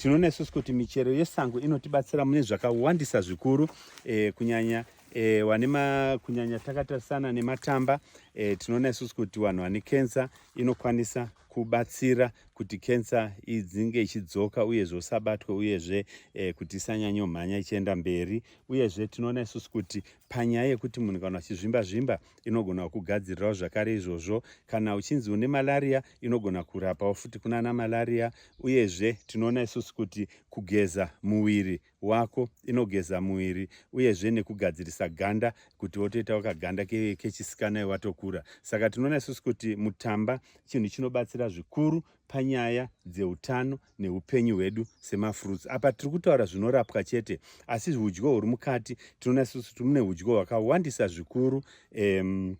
Tinoona isusu kuti michero yesango inotibatsira mune zvakawandisa zvikuru e, kunyanya e, wane ma, kunyanya takatarisana nematamba e, tinoona isusu kuti vanhu vane kensa inokwanisa kubatsira kuti kensa idzinge ichidzoka uyezve usabatwe uyezve e, kuti isanyanyo mhanya ichienda mberi uyezve tinoona isusu kuti panyaya yekuti munhu kana achizvimba zvimba inogona kukugadzirirawo zvakare izvozvo kana uchinzi une malaria inogona kurapawo futi kunana malaria uyezve tinoona isusu kuti kugeza muviri wako inogeza muviri uyezve nekugadzirisa ganda kuti wotoitawo kaganda kechisikana iwatokura saka tinoona isusu kuti mutamba chinhu chinobatsira zvikuru panyaya dzeutano neupenyu hwedu semafruits apa tiri kutaura zvinorapwa chete asi udyo huri mukati tinoona susu timune udyo hwakawandisa zvikuru um,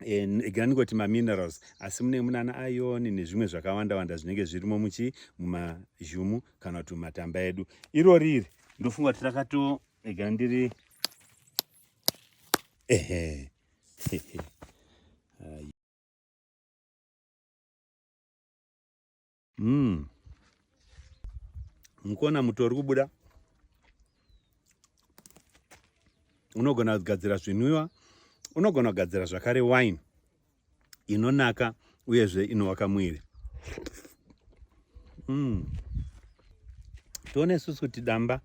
egera ndingoti maminerals asi mune munana ayoni nezvimwe zvakawanda wanda zvinenge zvirimo muchi mumazhumu kana kuti mumatamba edu iro riri ndofunga kuti rakato egera ndiri ehe Mm. Mukona muto uri kubuda unogona kugadzira zvinwiwa unogona kugadzira zvakare wine inonaka uyezve inovaka mwiri mm. tione isusu kuti damba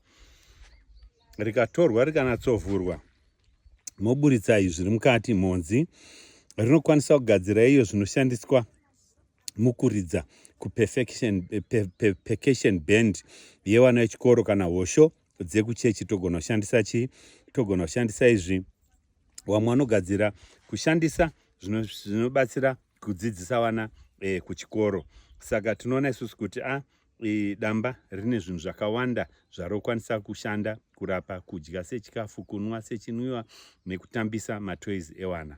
rikatorwa rikanatsovhurwa moburitsa izvi zviri mukati mhonzi rinokwanisa kugadzira iyo zvinoshandiswa mukuridza kuperfection eh, pe, pe, percussion band yevana vechikoro kana hosho dzekuchechi togona kushandisa chii togona kushandisa izvi wamwe anogadzira kushandisa zvinobatsira zvino kudzidzisa vana eh, kuchikoro saka tinoona isusu kuti a ah, e, damba rine zvinhu zvakawanda zvarokwanisa kushanda kurapa kudya sechikafu kunwa sechinwiwa nekutambisa matoys ewana